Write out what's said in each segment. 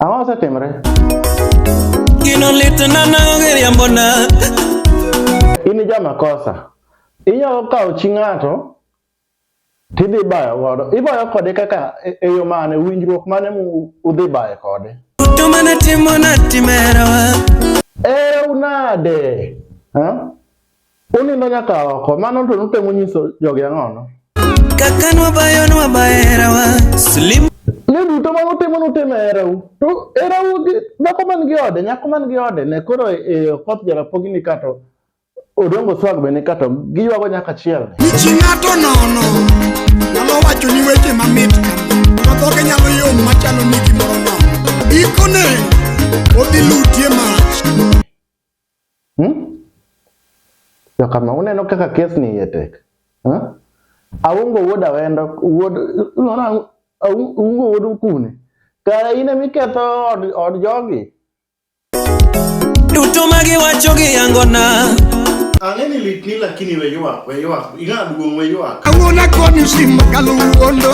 Ang'o osetimre? Gino litna na giriambo na. In ja makosa. Inyalo kawo chi ng'ato tidhi bayo godo. Ibayo kode kaka e, e yo mane, winjruok mane udhi bayo kode. To mana timo na timerawa. Era unade. Ha? Unindo nyaka oko, mano to nutemo nyiso jogi ang'ono. Kaka nwabayo nwabayo herawa, slim. Ne duto ma utimo nutimo erau. To erau gi dhako man gi ode, nyako man gi ode, ne koro e okoth jarapogi ni kato odongo swag be ni kato giywago nyaka chiel. Nichi ng'ato nono, nyalo wacho ni weche mamit kama, to dhoge nyalo yom machalo ni gimoro nono. Ikone, odhi lutie mach. Hmm? To kama uneno kaka kes ni iye tek. Hmm? Aungo wuod awendo, wuod, unona, aungo wuod ukune. Kara ine miketho od, od jogi. Duto magi wacho gi yangona. Ang'e ni lit ni lakini we yuak, we yuak, ing'a duong' we yuak. Ang'ona koni simba kaluwondo.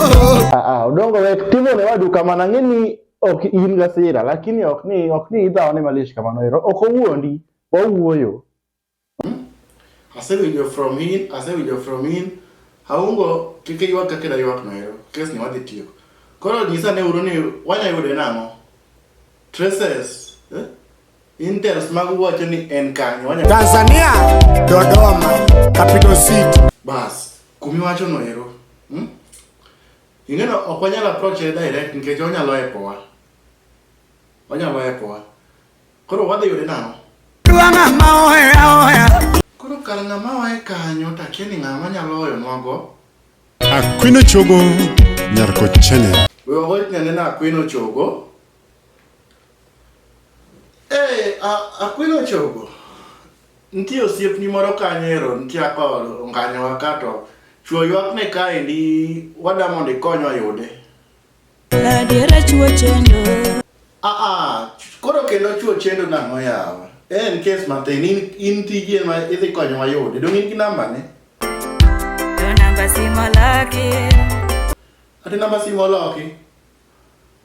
Ah, ah, udongo we, timo ne wadu kamana ng'e ni ok in gasira lakini ok ni ok ni idhawo ni malish kamano ero ok owuondi wawuoyo hmm? asewinjo from in asewinjo from in aungo kike ywak kaka da ywak no ero kes ni wadhi tiyo koro nyisa ne uru ni wanya yude nang'o traces eh? interest mag wacho ni en kanyo wanya Tanzania Dodoma capital city bas kumi wacho no ero hmm? Ing'eno ok wanyal approach e direct nikech onyalo epowa. Onyalo epowa. Koro wadhi yude nang'o? Dwa ng'ama ohera ohera. Koro kar ng'ama wae kanyo to akia ni ng'ama nyalo hoyo nwago. Akwino chogo nyar ko chene. We wagoit nyane na akwino chogo. Eh, hey, akwino chogo. Nitie osiepni moro kanyo e road nitie aka onganyowa ka to chuo ywakne kaendi wada mondo ikony oyude. Adiera chuo chendo. Ah ah, koro kendo chuo chendo nang'o yawa? En kes matin, in, in tiji ema idhi konyo wayude. Dong in gi namba ne? Namba simo laki. Ati namba simo loki?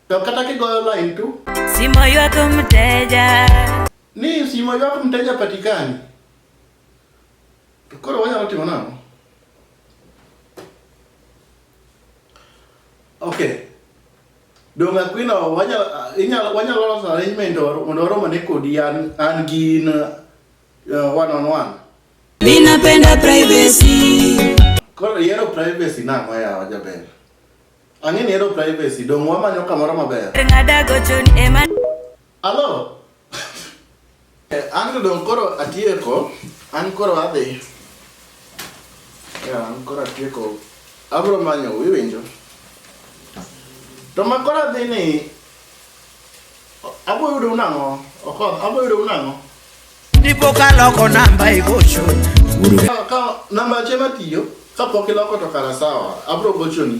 To kata kigoyo line tu. Simo ywak mteja. Ni simo ywak mteja patikani. To koro wanyalo timo nang'o? Okay. Dong Aquino wanyalo inyalo wanyalo loso arrangement mondo oromo ne kodi an an gin uh, one on one. Ninapenda privacy. Koro yero privacy nang'o yawa jaber. Ang'e ni hero privacy, dong' wamanyo kamoro maber. Ng'ada gochoni ema. Alo? Eh, an to dong' koro atieko, an koro adhi. Yeah, an koro atieko. Abro manyo, iwinjo? To ma koro adhi ni, abo yudo unang'o? Okoth, abo yudo unang'o? Dipo ka loko namba igocho. Ka namba achiel matiyo, ka pok iloko to kara sawa, abro gochoni.